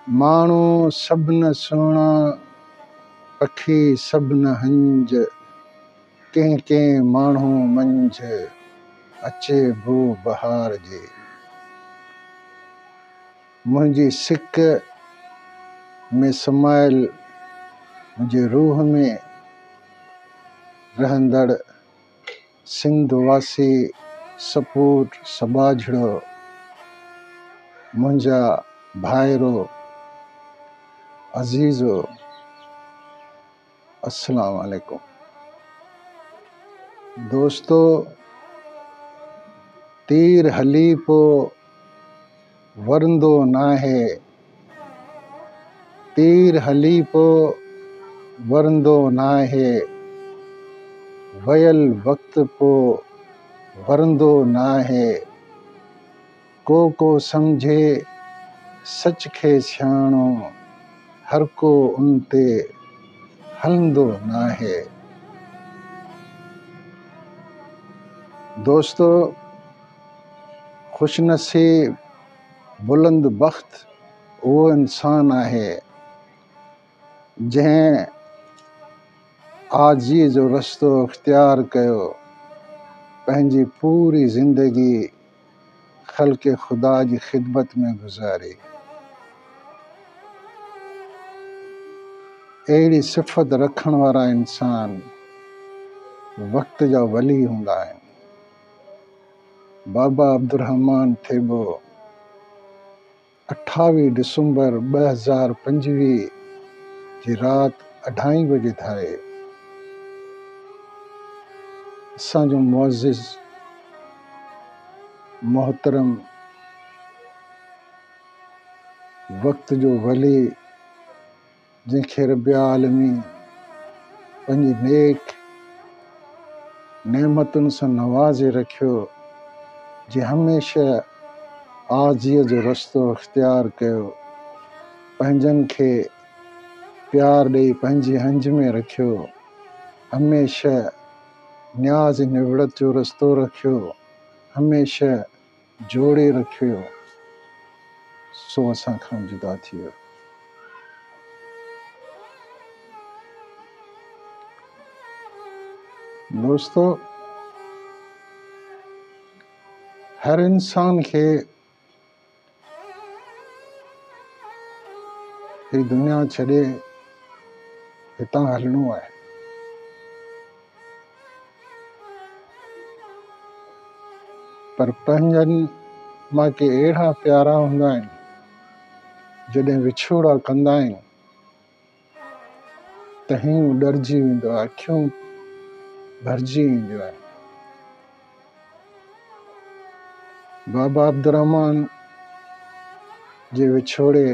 ماڻهو سڀ نه سهڻا، پکي سڀ نه هنج، ڪنهن ڪنهن ماڻهو منجهه، اچي بو بهار جي. منهنجي سڪ ۾ سمايل، منهنجي روح ۾ رهندڙ. سنڌ واسي سپوٽ سٻاجهڙو منهنجا ڀائرو عزيزو السلام عليڪم دوستو تير هلي پو ورندو ناهي، تير هلي پو ورندو ناهي، ويل وقت پو ورندو ناهي، ڪو ڪو سمجهي سچ کي سياڻو، هر ڪو ان تي هلندو ناهي. دوستو! خوش نصيب بلند بخت اهو انسان آهي جنهن آجزي جو رستو اختيار ڪيو پنهنجي پوري زندگي خلق خدا جي خدمت ۾ گذاري اهڙي صفت رکڻ وارا انسان وقت جا ولي هوندا آهن بابا عبدالرحمان ٿيٻو اٺاويهه ڊسمبر ٻه هزار پنجويهه جي رات اڍائين بجي ڌاري اسان جو معزز محترم وقت جو ولي جنهن کي رب العالمين پنهنجي نيڪ نعمتن سان نوازي رکيو جنهن هميشه آجزيء جو رستو اختيار ڪيو پنهنجن کي پيار ڏئي پنهنجي هنج ۾ رکيو هميشه نياز نوڙت جو رستو رکيو هميشه جوڙي رکيو سو اسان کان جدا ٿي ويو. دوستو هر انسان کي هي دنيا ڇڏي هتان هلڻو آهي. پر پنهنجن مان ڪي اهڙا پيارا هوندا آهن جڏهن وڇوڙا ڪندا آهن ته هينئون ڏرجي ويندو آهي اکيون ڀرجي وينديون آهن بابا عبدالرحمان جي وڇوڙي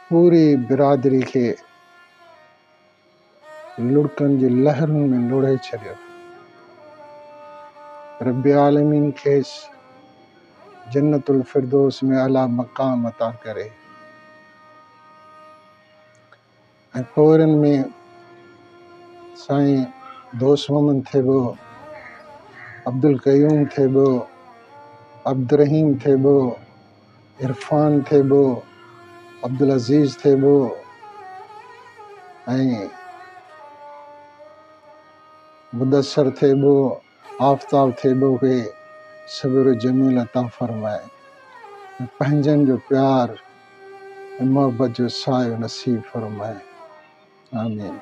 پوري برادري کي لڙڪن جي لهرن ۾ لوڙهي ڇڏيو. رب العالمين کيس جنت الفردوس ۾ اعليٰ مقام عطا ڪري ۽ پورن ۾ سائين دوست محمد ٿيٻو، عبدالقيوم ٿيٻو، عبدالرحيم ٿيٻو، عرفان ٿيٻو، عبدالعزيز ٿيٻو ۽ مدثر ٿيٻو، آفتاب ٿيٻو کي صبر جميل عطا فرمائي ۽ پنهنجن جو پيار ۽ محبت جو سايو نصيب فرمائي. آمين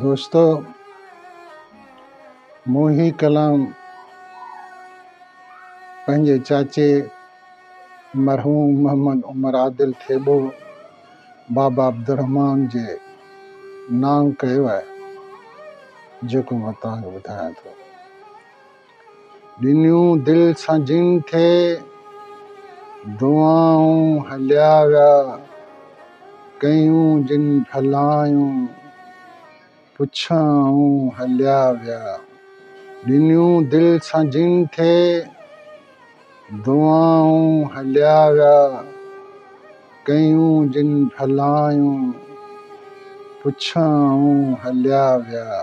دوستو مون هي ڪلام پنهنجي چاچي مرحوم محمد عمر عادل ٿيٻو بابا عبدالرحمان جي نانگ ڪيو آهي جيڪو مان توهان کي ٻڌايان ٿو ڏنيون دل سان جن کي، دعائون هليا ويا، ڪيون جن ڀلائيون، پڇائون هليا ويا. ڏنيون دل سان جن کي، دعائون هليا ويا، ڪيون جن ڀلائيون، پڇائون هليا ويا.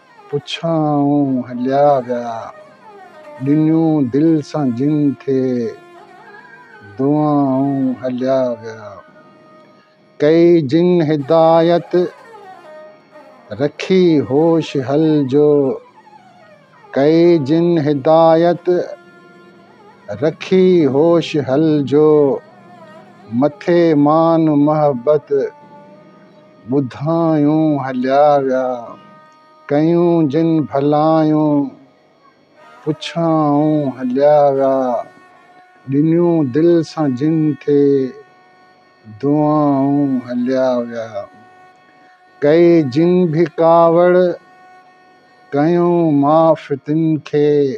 پڇائون هليا ويا، ڏنيون دل سان جن کي، دعائون هليا ويا. ڪئي جن هدايت، رکي هوش هلجو، ڪئي جن هدايت، رکي هوش هلجو، مٿي مان محبت. ٻڌايون هليا ويا، ڪيون جن ڀلايون پڇائون هليا ويا، ڏنيون دل سان جن کي دعائون هليا ويا، ڪئي جن به ڪاوڙ ڪيون معاف تن کي.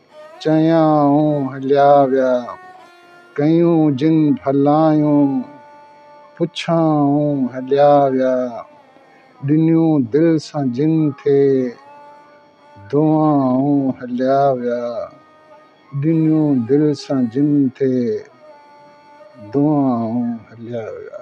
چيائون هليا ويا، ڪيون جن ڀلائيون، پڇيائون هليا ويا، ڏنيون دل سان جن کي، دعائون هليا ويا، ڏنيون دل سان جن کي، دعائون هليا ويا.